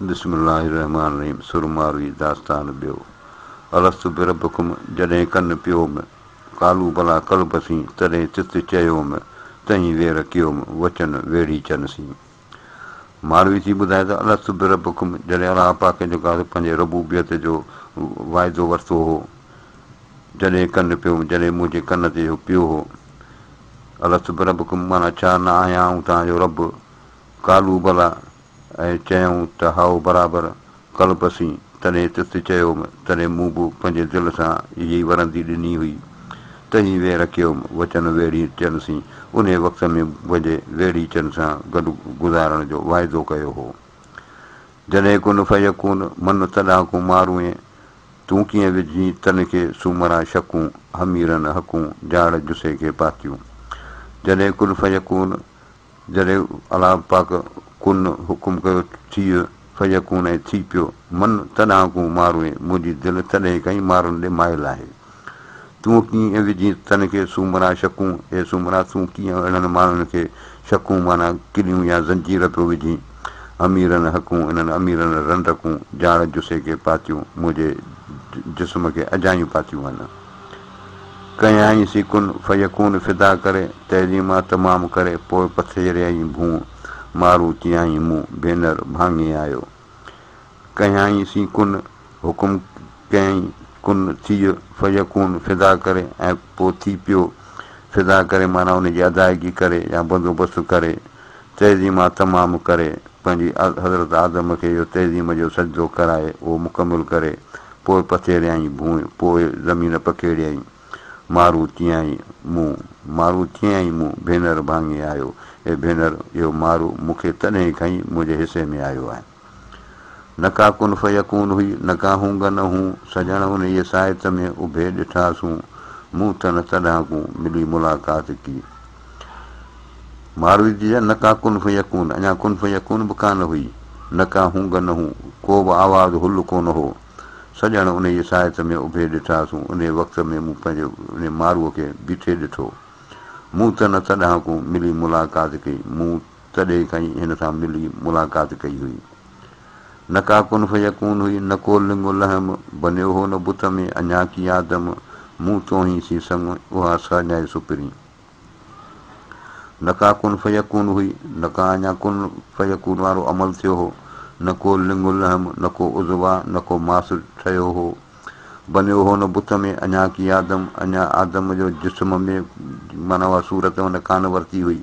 بسم الله الرحمٰن الرحيم سرماروي داستان ٻيو الست بربڪم جڏهن ڪن پيوم قالو بلا قل بسين تڏهن تت چيوم تهين وير ڪيوم وچن ويڙهي چن سين ماروي ٿي ٻڌائي ته الست بربڪم جڏهن الله پاڪ جيڪو آهي پنهنجي ربوبيت جو واعدو ورتو هو جڏهن ڪن پيوم جڏهن منهنجي ڪن تي اهو پيو هو الست بربڪم معنيٰ ڇا نه آهيان آئون توهان جو رب قالو بليٰ ۽ چيائون ته هائو برابر قلب اسين تڏهن تت چيوم تڏهن مون به پنهنجي دل سان اهيئي ورندي ڏني هئي تهين ويهه رکيوم وچن ويڙهيچن سين انهي وقت ۾ پنهنجي ويڙهيچن سان گڏ گذارڻ جو واعدو ڪيو هو جڏهن ڪن فيڪون من تڏهانڪون ماروئين تون ڪيئن وجهين تن کي سومرا شڪون حميرن حقون جاڙ جسي کي پاتيون جڏهن ڪن فيڪون جڏهن الله پاڪ ڪن حڪم ڪيو ٿيء فيڪون ۽ ٿي پيو من تڏهانڪون ماروئين منهنجي دل تڏهين کانئي مارڻ ڏي مائل آهي تون ڪيئن ۽ وجهين تن کي سومرا شڪون اي سومرا تون ڪيئن اهڙن ماڻهن کي شڪون معنيٰ ڪليون يا زنجير پيو وجهين اميرن حڪون انهن اميرن رنڊڪون جاڙ جسي کي پاتيون منهنجي جسم کي اجايون پاتيون هن. ڪيائين سي ڪن فيڪون فدا ڪري، تعظيما تمام ڪري پوء پٿيريائين ڀونء، مارون چيائين مون ڀينر ڀاڱي آيو. ڪيائين سي ڪن، حڪم ڪيائين ڪن ٿيء فيڪون فدا ڪري ۽ پوء ٿي پيو، فدا ڪري معنيٰ ان جي ادائگي ڪري يا بندوبست ڪري تعظيمات مام ڪري پنهنجي حضرت آدم کي اهو تعظيم جو سجدو ڪرائي اهو مڪمل ڪري پوء پٿيريائين ڀونء پوء زمين پکيڙيائين مارو چيائين مون مارو چيائين مون ڀينر ڀاڱي آيو اي ڀينر اهو مارو مون کي تڏهن کائين منهنجي حصي ۾ آيو آهي. نه ڪا ڪن فيڪون هئي، نه ڪا هونگن هون، سڄڻ انهيء ساعت ۾ اڀي ڏٺاسون، مون تن تڏهان ڪون ملي ملاقات ڪي. مارويدي جا نه ڪا ڪن فيڪون، اڃا ڪن فيڪون به ڪانه هئي، نه ڪا هونگن هون، ڪو به آواز هل ڪونه هو، سڄڻ انهيء ساعت ۾ اڀي ڏٺاسون، انهيء وقت ۾ مون پنهنجي انهيء ماروء کي بيٺي ڏٺو. مون تن تڏهان ڪون ملي ملاقات ڪي، مون. تڏهن کانئي هن سان ملي ملاقات ڪئي هئي. نه ڪا ڪن فيڪون هئي، نه ڪو لنگ و لحم، بنيو هو نه بت ۾ اڃا ڪي آدم، مون توهين سين سڱ اها سهڄائي سپرين. نه ڪا ڪن فيڪون هئي، نه ڪا اڃا ڪن فيڪون وارو عمل ٿيو هو، نه ڪو لنگ و لحم، نه ڪو عضوا، نه ڪو ماس ٺهيو هو، بنيو هو نه بت ۾ اڃا ڪي آدم، اڃا آدم جو جسم ۾ معنيٰ اها صورت هن ڪانه ورتي هئي.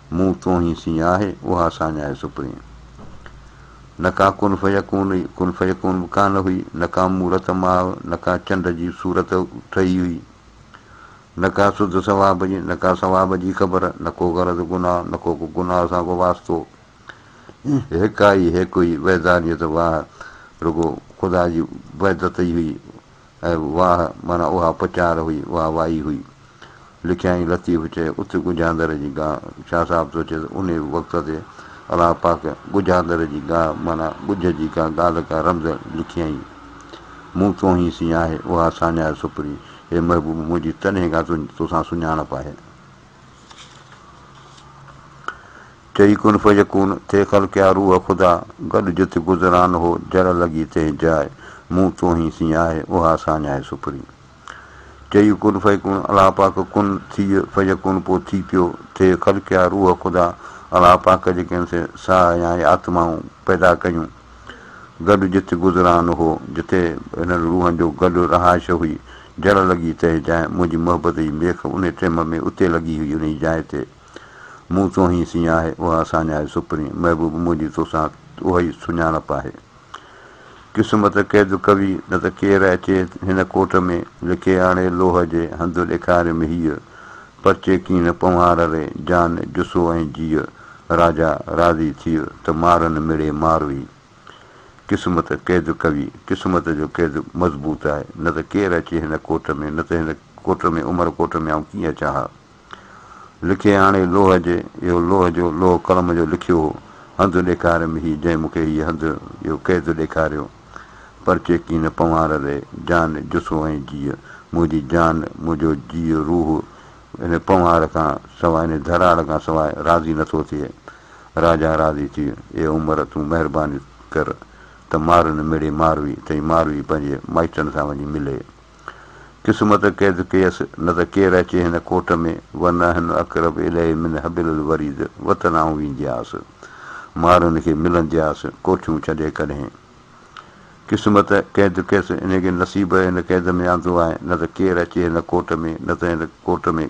مون توهين سين آهي اها ساڃاهه سپرين. نه ڪا ڪن فيڪون هئي، ڪن فيڪون به ڪانه هئي، نه ڪا مورت ماء، نه ڪا چنڊ جي صورت ٺهي هئي، نه ڪا سڌ ثواب جي، نه ڪا ثواب جي خبر، نه ڪو غرض گناهه، نه ڪو ڪو گناهه سان ڪو واسطو. هيڪا ئي هيڪ هئي وحدانيت واهه رڳو خدا جي وحدت ئي هئي. اهي واهه معنيٰ اها پچار هئي، اها وائي هئي. لکيائين لطيف چئي اٿ ڳجهاندر جي گاهه. شاهه صاحب سوچيو ته انهيء وقت تي الله پاڪ ڳجهاندر جي گاهه معنيٰ ڳجهه جي ڪا ڳالهه ڪا رمز لکيائين. مون توهين سين آهي اها ساڃاهه سپري. اي محبوب منهنجي تڏهن کان توسان سڃاڻپ آهي. چئي ڪن فيڪون، ٿي خلقيا روح خدا، گڏ جت گذران هو، جڙ لڳي تنهن جاء، مون توهين سڃاهي، اها ساڃاهي سپري. چئي ڪن فيڪون، الله پاڪ ڪن، ٿيء، فيڪون پوء ٿي پيو، ٿي خلقيا روح خدا، الله پاڪ جيڪي هن سين ساهه يا آتمائون پيدا ڪيون، گڏ جت گذران هو، جتي هنن روحن جو گڏ رهائش هئي، جڙ لڳي تنهن جاء، منهنجي محبت جي ميخ انهي ٽيم ۾ اتي لڳي هئي انهي جاء تي مون توهين سين آهي اها اسانجا آهي سپرين محبوب منهنجي توسان اهئي سڃاڻپ آهي قسمت قيد ڪوي نه ته ڪير اچي هن ڪوٽ ۾ لکي آڻي لوهه جي هنڌ ڏيکاريم هيء پرچي ڪين پنوهار ري، جان جسو ۽ جيء. راجا راضي ٿيء، ته مارن مڙي ماروي. قسمت قيد قوي، قسمت جو قيد مضبوط آهي، نه ته ڪير اچي هن ڪوٽ ۾، نه ته هن ڪوٽ ۾، عمر ڪوٽ ۾ آئون ڪيئن اچان ها. لکي آڻي لوهه جي، اهو لوهه جو، لوهه قلم جو لکيو هو، هنڌ ڏيکاريم هي، جنهن مون کي هيء هنڌ، اهو قيد ڏيکاريو. پر چيڪي نه پنوار ري، جان، جسو ۽ جيء، منهنجي جان، منهنجو جيء، روح، ان پنوار کان سواء، ان ڌراڙ کان سواء، راضي نه ٿو ٿئي. راجا راضي ٿي، اي عمر، تون مهرباني ڪر ته مارن مڙي ماروي، تئين ماروي پنهنجي مائٽن سان وڃي ملي. قسمت قيد ڪيس، نه ته ڪير اچي هن ڪوٽ ۾، ونحن اقرب اليه من حبل الوريد، وطن آئون ويندياس، مارن کي ملندياس، ڪوٺيون ڇڏي ڪڏهن. قسمت قيد ڪيس، انهيء کي نصيب هن قيد ۾ آندو آهي، نه ته ڪير اچي هن ڪوٽ ۾، نه ته هن ڪوٽ ۾.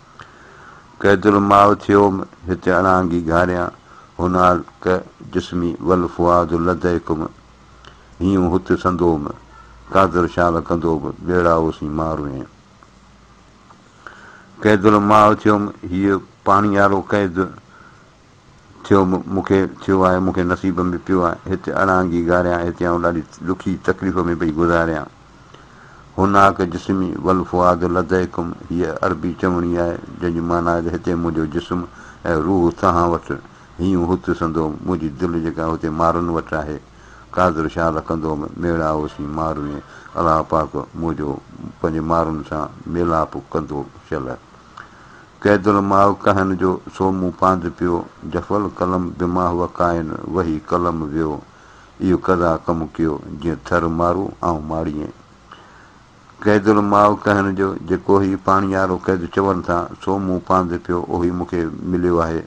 ڪيترو ماء ٿيوم هتي اڻانگي گهاريان هنالڪ جسمي والفؤاد لديكم هيون هت سندوم قادر شال ڪندو به ٻيڙا اوسين مان روئين ڪيترو ماء ٿيوم هيء پاڻيارو قيد ٿيو مون کي ٿيو آهي مون کي نصيب ۾ پيو آهي هت اڙانگي گاريان هتي آئون ڏاڍي ڏکي تڪليف ۾ پئي گذاريان هناڪ جسمي والفؤاد لديكم هيء عربي چوڻي آهي جنهن جي معنيٰ آهي ته هتي منهنجو جسم ۽ روح توهان وٽ هيون هت سندو منهنجي دل جيڪا هتي مارن وٽ آهي قادر شاهه لکندوم ميڙا اوسين ماروين الله پاڪ منهنجو پنهنجي مارن سان ميلاپ ڪندو شل قيد المال ڪهن جو، سو مون پاند پيو. جف القلم بماه وقائن، وهي قلم ويو. اهو قضا ڪم ڪيو، جيئن ٿر مارو آئون ماڙيين. قيد المال ڪهن جو، جيڪو هي پاڻيارو قيد چون ٿا، سو مون پاند پيو، اهوئي مون کي مليو آهي.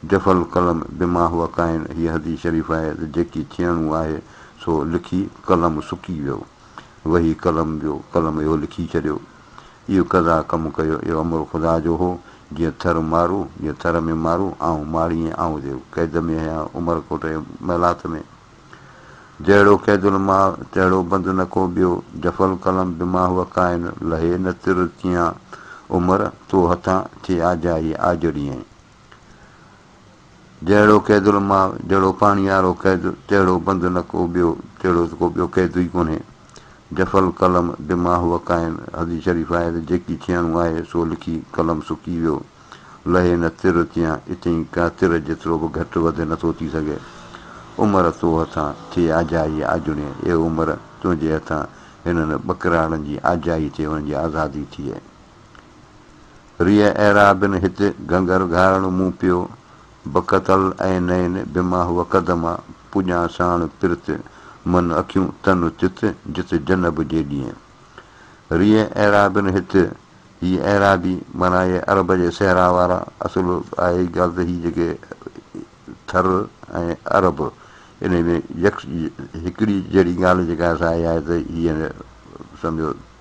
جف القلم بماه وقائن، هيء حديث شريف آهي ته جيڪي ٿيڻو آهي، سو لکي قلم سڪي ويو. وهي قلم ويو، قلم اهو لکي ڇڏيو. اهو قضا ڪم ڪيو، اهو امر خدا جو هو، جيئن ٿر مارو، جيئن ٿر ۾ مارو، آئون ماڙي ۽ آئون ديو، قيد ۾ هيان عمر ڪوٽ ۽ محلات ۾. جهڙو قيد الماء، تهڙو بند نه ڪو ٻيو، جفا القلم بما هو ڪائن، لهي نه تر تيئان عمر، تو هٿان ٿئي آجائي آجڙيئين. جهڙو قيد الماء، جهڙو پاڻيهارو قيد، تهڙو بند نه ڪو ٻيو، تهڙو ته ڪو ٻيو قيد ئي ڪونهي. جف القلم بما هو ڪائن، حديث شريف آهي ته جيڪي ٿيڻو آهي سو لکي قلم سڪي ويو، لهي نه تر تيان اتيئي ڪا تر جيترو به گهٽ وڌ نه ٿو ٿي سگهي. عمر تو هٿان ٿئي آجائي آجڙين، اي عمر تنهنجي هٿان هنن ٻڪراڙن جي آجائي ٿئي انهن جي آزادي ٿئي. ريء ايرا بن هت گهنگر گهارڻ مون پيو، بڪت العينين بما هو قدما، پڄان ساڻ پرت من اکيون تن تت جت جنب جي ڏينهن. ريء ايرا بن هت، هي ايرابي معنيٰ اهي عرب جي صحرا وارا، اصل آهي هي ڳالهه ته هي جيڪي ٿر ۽ عرب انهي ۾ يڪ هڪڙي جهڙي ڳالهه جيڪا آهي سا اها آهي ته هي سمجهو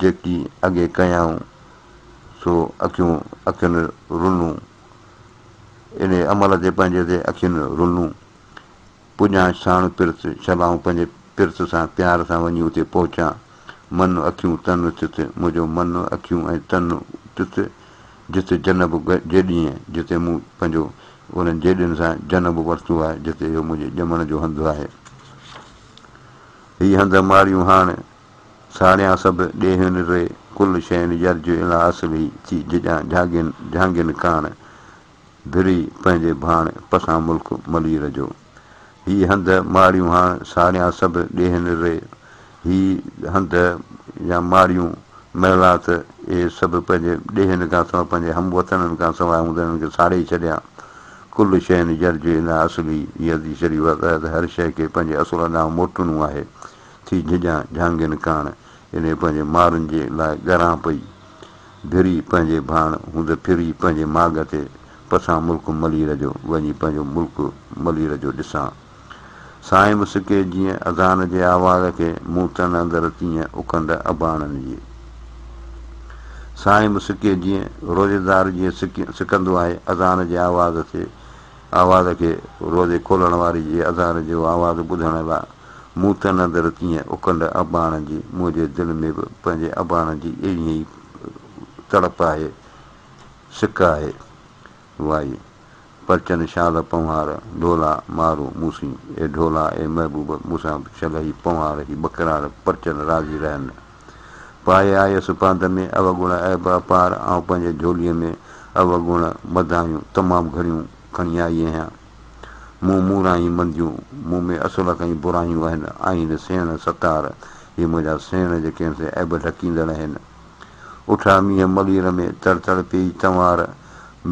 جيڪي اڳي ڪيائون سو اکيون اکين رنون. انهيء عمل تي پنهنجي تي اکين رنون. پڄان ساڻ پرت شلائون پنهنجي پرت سان پيار سان وڃي اتي پهچان. من اکيون تن تت منهنجو من اکيون ۽ تن تت جت جنب جيڏينهن جتي مون پنهنجو انهن جيڏين سان جنب ورتو آهي جتي اهو منهنجي ڄمڻ جو هنڌ آهي. هي هنڌ ماڙيون هاڻ. ساڙيان سڀ ڏيهين ري، ڪل شين يرجع اليٰ اصله ٿي جڄان جهاڳين جهانگين ڪاڻ، ڀري پنهنجي ڀاڻ، پسان ملڪ ملير جو. هي هنڌ ماڙيون هاڻ، ساڙيان سڀ ڏيهين ري، هي هنڌ يا ماڙيون، محلات، اهي سڀ پنهنجي ڏيهين کان سواء پنهنجي هم وطنن کان سواء هوندي انهن کي ساڙي ڇڏيا. ڪل شين يرجع اليٰ اصله، هي حديث شريف آهي ته هر شيء کي پنهنجي اصل ڏانهن موٽڻو آهي. ٿي جهڄان جهانگين ڪاڻ، جڏهن پنهنجي مارن جي لاء ڳران پئي، ڀري پنهنجي ڀاڻ، هوند ڦري پنهنجي ماڳ تي، پسان ملڪ ملير جو، وڃي پنهنجو ملڪ ملير جو ڏسان. سائين مسڪي جيئن اذان جي آواز کي، مون تن اندر تيئن اڪنڊ اباڻن جي. سائين مسڪي جيئن روزيدار جيئن سڪندو آهي اذان جي آواز تي، آواز کي روزي کولڻ واري جي اذان جو آواز ٻڌڻ لاء مون تن اندر تيئن اڪنڊ اباڻ جي منهنجي دل ۾ به پنهنجي اباڻ جي ايئن ئي تڙپ آهي سڪ آهي وائي پرچن شال پنهوار ڍولا مارو مون سين اي ڍولا اي محبوب مون سان به ڇلهي پنهوار هي ٻڪرار پرچن راضي رهن. پائي آيس پانڌ ۾، اوڳڻ عيب اپار، آئون پنهنجي جھوليء ۾ اوڳڻ مدايون تمام گھڻيون کڻي آئي اهيان. مون موران ئي منديون، مون ۾ اصل کان ئي برايون اهن، آهن سيڻ ستار، هي منهنجا سيڻ جي ڪنهن سين عيب ڍڪيندڙ اهن. اٺا مينهن ملير ۾، تڙ تڙ پيئي تنوار،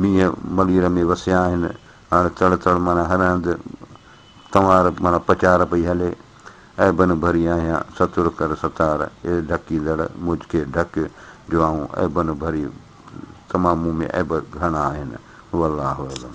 مينهن ملير ۾ وسيا آهن، هاڻ تڙ تڙ معنيٰ هر هنڌ ڪنوار معنيٰ پچار پئي هلي، اي بنهه ڀري آهيان، ستر ڪر ستار، اي ڍڪيندڙ، مجھ کي ڍڪ، جو آئون اي بنهه ڀري تمام مون ۾ عيب گهڻا آهن. هو الله اعلم.